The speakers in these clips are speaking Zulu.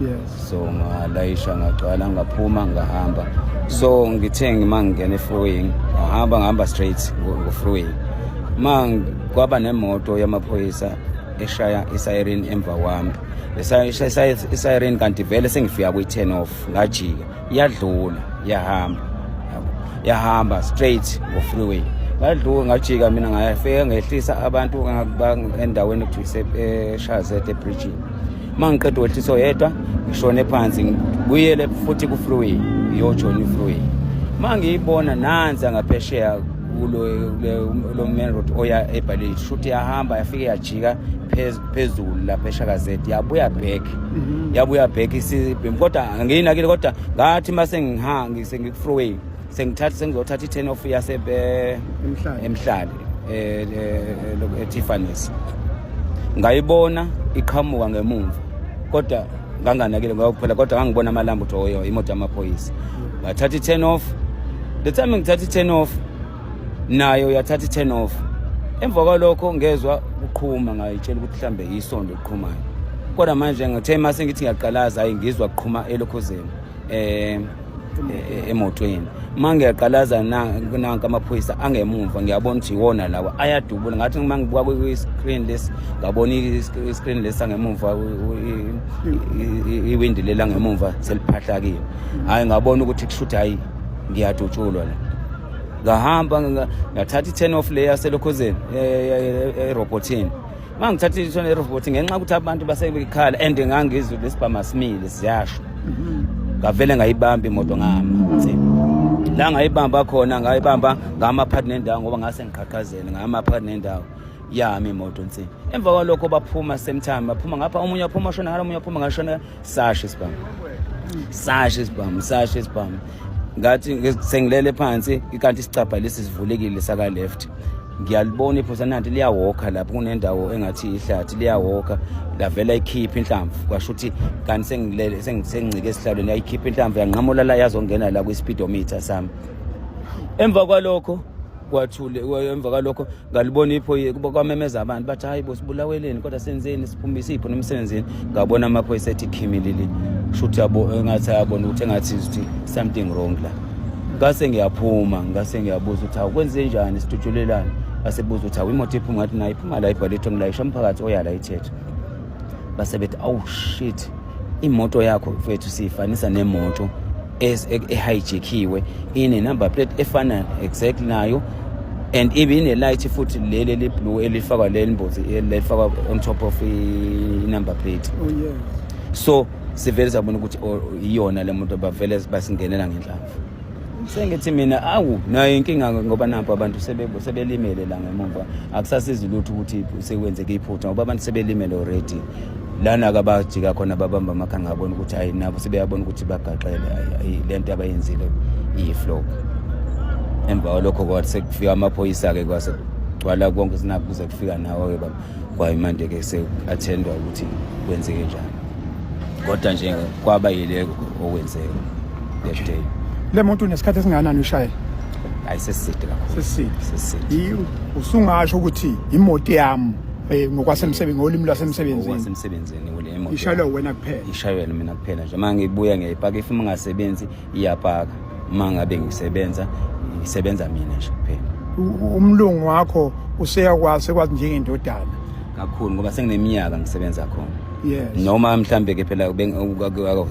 yes so ngalayisha ngagcwala ngaphuma ngahamba so ngithe ngima ngingena efruing ngahamba ngihamba straight ngofruing ma kwaba nemoto yamaphoyisa eshaya isiren emva kwami isayireni kanti vele sengifika kwi-ten off ngajika yadlula yahamba yahamba straight ngo-freeway ngadluka ngajika mina ngafika ngehlisa abantu endaweni ekuthiwa eshazet ebridgini uma ngiqeda ukwehlisa oyedwa ngishone phansi ngibuyele futhi ku-freeway ngiyojona i-freeway uma ngiyibona nansi angaphesheya kulo main road oya ebhaleni shuthi yahamba yafike yajika phezu phezulu lapha eshakazeti yabuya back mhm. yabuya back isibhemu kodwa ngiyinakile kodwa ngathi uma sengihangi sengikufroway sengithatha sengizothatha i-ten off yasebe emhlali e-tiffany's e, e, e, ngayibona iqhamuka ngemumva kodwa nganganakile ngayokuphela kodwa ngangibona amalambu ukuthi oyo imoto yamaphoyisa ngathatha i-ten off the time ngithatha i-ten off nayo yathatha i-turn off emva kwalokho ngezwa kuqhuma ngayitshela ukuthi mhlambe yisondo liqhumayo kodwa manje ngithe mase ngithi ngiyaqalaza hayi ngizwa kuqhuma elokhozeni um eh, eh, emotweni uma ngiyaqalaza nanka amaphoyisa angemumva ngiyabona ukuthi yiwona lawa ayadubula ngathi uma ngibuka kwi-screen lesi ngabona i-screen lesi angemumva iwindi leli angemumva seliphahlakile hhayi ngabona ukuthi kushuthi hhayi ngiyadutshulwa la ngahamba ngathatha i-ten off le yaselokhozeni erobothini uma ngithatha i-ten erobothi ngenxa ukuthi abantu basekhala and ngangizwe lesibhama simile siyasho mhm. ngavele ngayibamba imoto ngama la ngayibamba khona ngayibamba ngama phakathi nendawo ngoba ngase ngiqhaqhazele ngama phakathi nendawo yami imoto nsi emva kwalokho baphuma same time baphuma ngapha omunye aphuma shona ngalo omunye aphuma ngashona sashe sibhamu sashe sibhamu sashe sibhamu ngathi sengilele phansi kanti isicabha lesi sivulekile saka left ngiyalibona iphosa nanti liyawokha lapho kunendawo engathi ihlathi liyawokha lavela ikhipha inhlamvu kwasho ukuthi kanti sengilele sengicike esihlalweni yayikhipha inhlamvu yanqamula la yazongena la kwi-speedometer sami emva kwalokho kwathule emva kwalokho ngalibona iphoyisa kwamemeza abantu bathi hayi bo sibulaweleni kodwa senzeni siphumise ipho nomsebenzini ngabona amaphoyisa ethi khimilili kusho ukuthi engathi ayabona ukuthi engathi ukuthi something wrong la ngase ngiyaphuma ngase ngiyabuza ukuthi awukwenze njani sidutshulelane asebuza ukuthi awimoto iphuma ngathi nayo iphuma la ibhalethwe ngilayisha umphakathi oyala ithethe base bethi awu shit imoto yakho mfethu siyifanisa nemoto ehijackiwe ine number plate efana exact nayo and ibe ine light futhi leli eli blue elifakwa leli mbozi elifakwa on top of i number plate oh yes so sivele sabona ukuthi oh, iyona le muntu bavele basingenela ngenhlamvu sengithi mina awu nayo inkinga ngoba nampo abantu sebelimele la ngemumva akusasizi lutho ukuthi sekwenzeke iphutha ngoba abantu sebelimele already lana kabajika khona babamba amakha ngabona ukuthi hayi nabo sebeyabona ukuthi bagaxele hayi le nto abayenzile iyi-flop emva kwalokho kwathi sekufika amaphoyisa-ke kwase kugcwala konke sinakho kuze kufika nawo-ke baba kwayimanje-ke se-athendwa ukuthi kwenzeke njani kodwa nje kwaba yileko okwenzeka that day le moto unesikhathi esingakanani ushayela hayi sesiside kakhulu sesiside sesiside usungasho ukuthi imoto yami Eh, ngokwasemsebenzini ngolimi lwasemsebenzini ngokwasemsebenzini kule emoto ishayelwe wena kuphela ishayelwe mina kuphela nje uma ngibuya ngiyayipaka if uma ngasebenzi iyapaka uma ngabe ngisebenza ngisebenza mina nje kuphela umlungu wakho useyakwazi sekwazi njengendodana kakhulu ngoba sengineminyaka ngisebenza khona yes noma mhlambe ke phela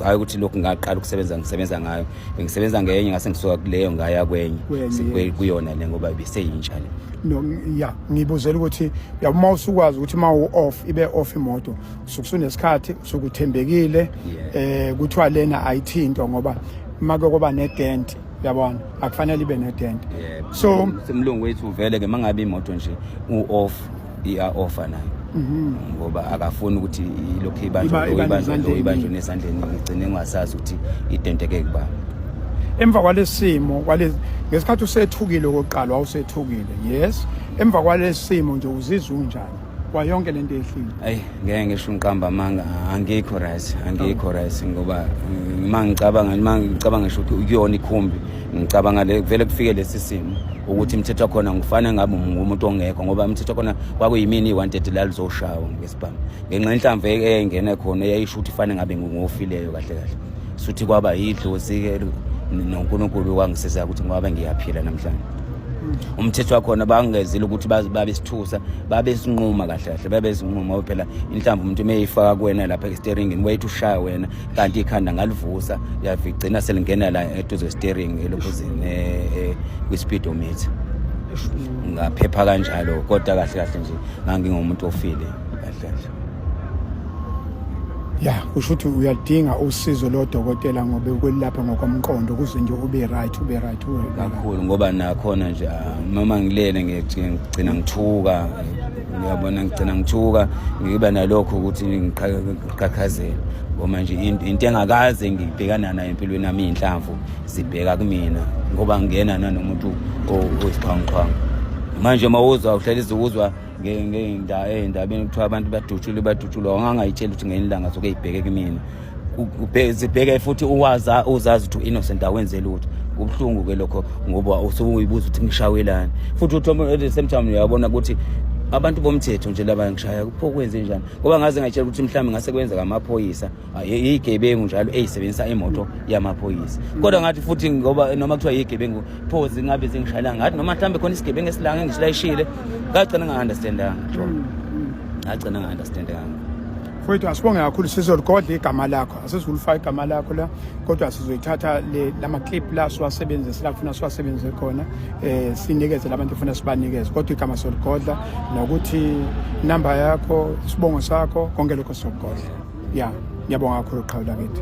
hayi ukuthi lokhu ngaqala ukusebenza ngisebenza ngayo bengisebenza ngenye ngase ngisuka kuleyo ngaya kwenye Kwenye, Sikwe- yes. kuyona le ngoba biseyintsha le no ya ngibuzela ukuthi ya uma usukwazi ukuthi uma u off ibe off imoto usukusunesikhathi usukuthembekile Yeah. eh kuthiwa lena ayithintwa ngoba uma kokuba ne dent yabona akufanele ibe ne dent Yeah. so umlungu wethu vele ke mangabe imoto nje u-off iya-offer nayo Mhm. ngoba akafuni ukuthi ilokhu Iba- ibanjwa lo, iba ibanjwa lo, nezandleni. ibanjwa nezandleni ngigcine ngingasazi ukuthi identeke kuba emva kwalesimo kwale ngesikhathi usethukile okokuqala wawusethukile yes emva kwalesimo nje uzizwa unjani kwayonke lento ehlile ayi ngeke ngisho ngiqamba amanga angikho right angikho right ngoba mm, uma ngicabanga uma ngicabanga ngisho ukuthi ukuyona ikhumbi ngicabanga le kuvele kufike lesi simo ukuthi imithetho khona ngifane ngabe ngumuntu ongekho ngoba imithetho khona kwakuyimini i-130 lalizoshawa ngesibhamu ngenxa yenhlamvu eyayingene khona eyayisho ukuthi ifane ngabe ngingofileyo kahle kahle suthi kwaba yidlozi-ke nonkulunkulu wangisiza ukuthi ngoba ngiyaphila namhlanje umthetho wakhona bangezile ukuthi babesithusa babesinquma kahle kahle babesinquma phela inhlamba umuntu uma eyifaka kuwena lapha esiteringini wayethi ushaya wena kanti ikhanda ngalivusa liyavigcina selingena la eduze steering elokhuzini eh, eh, kwi-speedometer ngaphepha kanjalo kodwa kahle kahle nje ngangingumuntu ofile kahle kahle ya kusho ukuthi uyadinga usizo lodokotela ngoba ukwelapha ngokomqondo kuze nje ube right ube right kakhulu ngoba nakhona nje ah, noma ngilele ngigcina ngithuka ngiyabona ngigcina ngithuka ngiba nalokho ukuthi qhaqhazela ngoba nje into engakaze ngibhekana nayo empilweni yami iy'nhlamvu zibheka kumina ngoba ngingena nanomuntu oyisixhwanguxhwangu manje uma uzwa uhlelise uzwa ey'ndabeni kuthiwa abantu badutshulwe badutshulwa wangangayitsheli ukuthi ngenye ilanga zoke yibheke kumina zibheke futhi uwaza uzazi ukuthi innocent awenze lutho kubuhlungu ke lokho ngoba usukuyibuza ukuthi ngishawelani futhi uthi at the same time uyabona ukuthi abantu bomthetho nje laba ngishaya kupho kwenze njani ngoba ngaze ngayitshela ukuthi mhlawumbe ngase kwenzeka amaphoyisa iyigebengu njalo eyisebenzisa imoto yamaphoyisa kodwa ngathi futhi ngoba noma kuthiwa yigebengu pho zingabe zingishayelanga ngathi noma mhlawumbe khona isigebengu esilanga engisilayishile ngagcina nga-understandanga jona ngagcina nga-understandanga mfowethu asibonge kakhulu sizoligodla igama lakho asizulifaka igama lakho la kodwa sizoyithatha lama clip la siwasebenzise la kufuna siwasebenzise khona eh sinikeze labantu kufuna sibanikeze kodwa igama soligodla nokuthi number yakho isibongo sakho konke lokho sokugodla ya ngiyabonga kakhulu qhawula kithi